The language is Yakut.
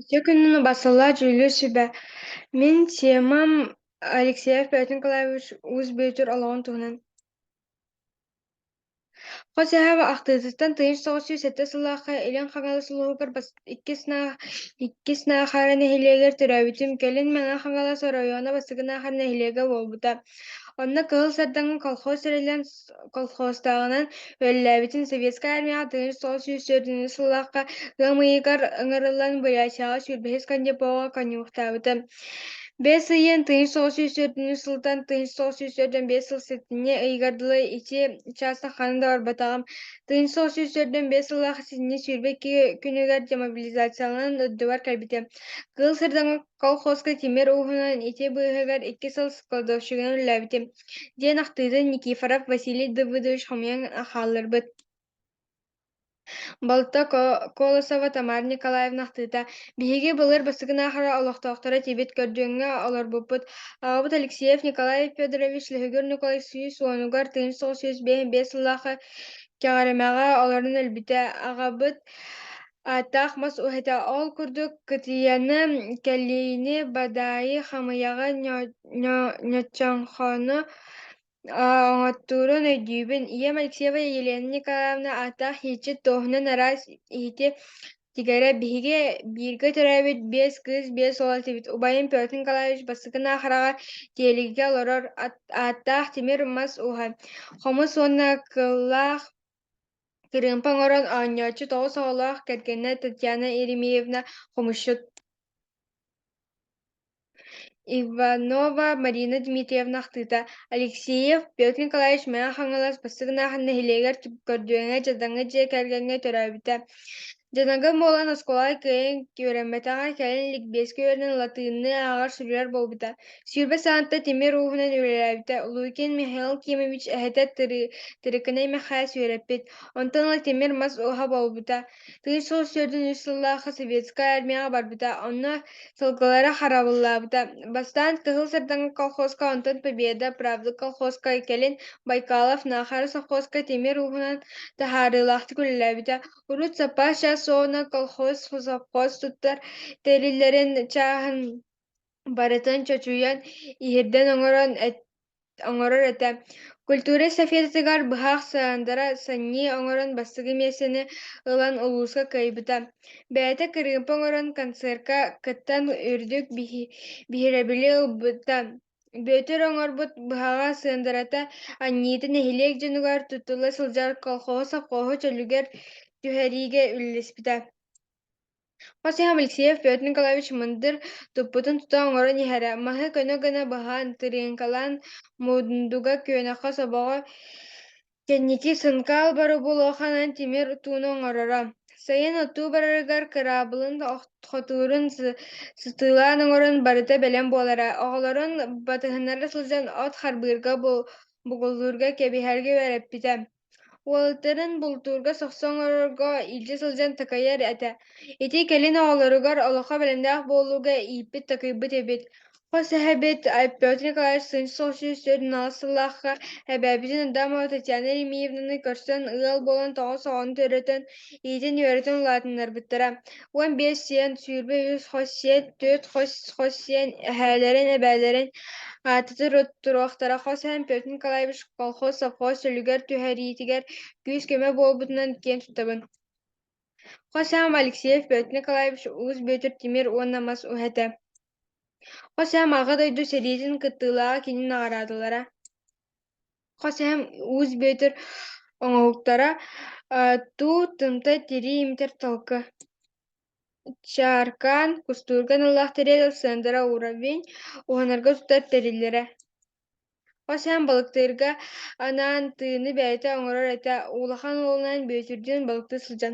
Дьэ күннүн басталла дьүүллүү сүбэ. Мин темам Алексеев Бээтин Николаевич Уус Бүөтүр олоҕун туһунан. Хос эһээбэ ахтыытыттан тыйыс соҕус сүүс сэттэ сыллаахха Илин Хаҥалас улууһугар бас иккис наах иккис Наахара нэһилиэгэр төрөөбүтүм. Кэлин Мэҥэ Хаҥалас оройуона бастакы Наахара нэһилиэгэ буолбута. Онно Кыһыл Сардаҥа колхоз тэриллэн колхозтааҕынан үлэлээбитин Советскай армияҕа тыһыынча тоҕус сүүс төрдүннүү сыллаахха тыам ыйыгар ыҥырыллан Бурятияҕа сүүрбэһис кондепоҕа коньюхтаабыта. Бэс ыйын тыһыынча тоҕус сүүс төрдүннүү сылтан тыһыынча тоҕус сүүс төрдөн биэс сыл сэтинньи ыйыгар дылы ити учаастак ханна да барбатаҕым. Тыһыынча тоҕус сүүс төрдөн биэс сыллаах сэтинньи сүүрбэ икки күнүгэр демобилизацияланан үрдүбар кэлбитэ. Кыыл Сырдаҥа колхозка тимир ууһунан ити быыһыгар икки сыл складовщигынан үлэлээбитим. диэн ахтыытын Никифоров Василий Давыдович хомуйан хаалларбыт. Балта Колосова Тамара Николаевна ахтыыта «Биһиги былыр бастакын аахара олохтоохторо этибит көрдүөҥҥэ олорбуппут. Аҕабыт Алексеев Николай Федорович Лөһүгүр Николай сүүс уонугар тыйыс тоҕус сүүс биэс биэс сыллаахы Кэҕэримэҕэ олорон өлбүтэ. Аҕабыт Ааттаах мас уһата ол курдук кытыйаны, кэлиини, бадаайы, хамыйаҕы, ньоччоҥхону оҥоттуурун өйдүүбүн. Ийэм Алексеева Елена Николаевна ааттаах иһитчит туоһунан араас иһити тигэрэ биһиги бииргэ төрөөбүт биэс кыыс биэс уол этибит. Убайым Петр Николаевич бастакы хараҕар тиэлигигэ олорор ааттаах тимир мас уһа. Хомус уонна кыллаах Кырыымпа оҥорон оонньооччу тоҕус оҕолоох кэргэнэ Татьяна Еремеевна, хомусчут Иванова Марина Дмитриевна ахтыыта Алексеев Петр Николаевич Мэҥэ Хаҥалас бастакы аахан нэһилиэгэр көрдүөҥҥэ-дьадаҥы дьиэ кэргэҥҥэ төрөөбүтэ Дьаныга буолан оскуола кыайан үөрэммэтэҕэ, кэлин ликбиэскэ үөрэнэн латыынны ааҕар суруйар буолбута. Сүүрбэ саанта тимир ууһунан үлэлээбитэ. Луикин Михаил Кимович эһэтэ тыры, Тырыкынай Мэхээс үөрэппит. Онтон ыла тимир мас ууһа буолбута. Тыын сыл сүүрдүн үс сыллаахы советскай армияҕа барбыта. Онно сылгылара харабыллаабыта. Бастаан Кыһыл Сардаҥа колхозка, онтон Победа, Правда колхозка, кэлин Байкалов Наахара совхозка тимир ууһунан таһаарыылаахтык үлэлээбитэ. Урут Сапаша Суона колхоз совхоз туттар тэриллэрин чааһын барытын чочуйан, иһирдэн оҥорон оҥорор этэ. Культура эстафетатыгар быһах сыандара санньыы оҥорон бастакы миэстэни ылан улууска кыайбыта. Бэйэтэ кырыымпа оҥорон концертка кыттан үрдүк биһирэбили ылбыта. Бүөтүр оҥорбут быһаҕа сыандырата анньыыта нэһилиэк дьонугар туттула сылдьар колхоһу совхоһу чөлүгэр түһэриигэ үлэлэспитэ. Хос иһэм Алексеев Петр Николаевич мындыр туппутун тута оҥорон иһэрэ, маһы көнө гына баһан, тырыыҥкалаан, мундуга, күөнэххэ, собоҕо Кэнники Сынкаал боробулуоханан тимир утууну оҥороро. Сайын отуу барарыгар кыраабылын хотуурун сытыылаан оҥорон барыта бэлэм буолара. Оҕолорун батыһыннара сылдьан от харбыырга, бугуллуурга, кэбиһэргэ үөрэппитэ. Уолаттарын бултуурга сохсо оҥорорго илдьэ сылдьан такайар этэ. Ити кэлин оҕолоругар олоххо бэлэмнээх буолууга ииппит-такыйбыт эбит. хос эһэбит Петр Николаевич Суньсыл сүүс төрт-аҕыс сыллаахха эбэбитин Адамова Татьяна Ефимовнаны көрсөн ыал буолан тоҕус оҕону төрөтөн, иитин-үөрэтин улаатыннарбыттара. Уон биэс сиэн, сүүрбэ үс хос сиэн, түөрт хос хос сиэн эһээлэрин, эбээлэрин аатытын туруохтара. Хос эһэм Петр Николаевич колхоз совхоз чөлүгэр түһэриитигэр күүс-көмө буолбутунан киэн туттабын. Хос эһэм Алексеев Петр Николаевич, Уус Бүөтүр Тимир уонна мас уһэтэ. Хос эһэм Аҕа дойду сэриитин кыттыылааҕа кини наҕараадалара Хос эһэм Уус Бүөтүр оҥоһуктара, э, туу, тымтай, тирии имитэр талка, чааркаан, кустуурга аналлаах тэрил ыксаандара уравень, уһанарга устар тэриллэрэ. Хос эһэм балыктыырга анаан тыыны бэйэтэ оҥорор этэ, улахан уолунан Бүөтүрдүүн балыктыы сылдьан.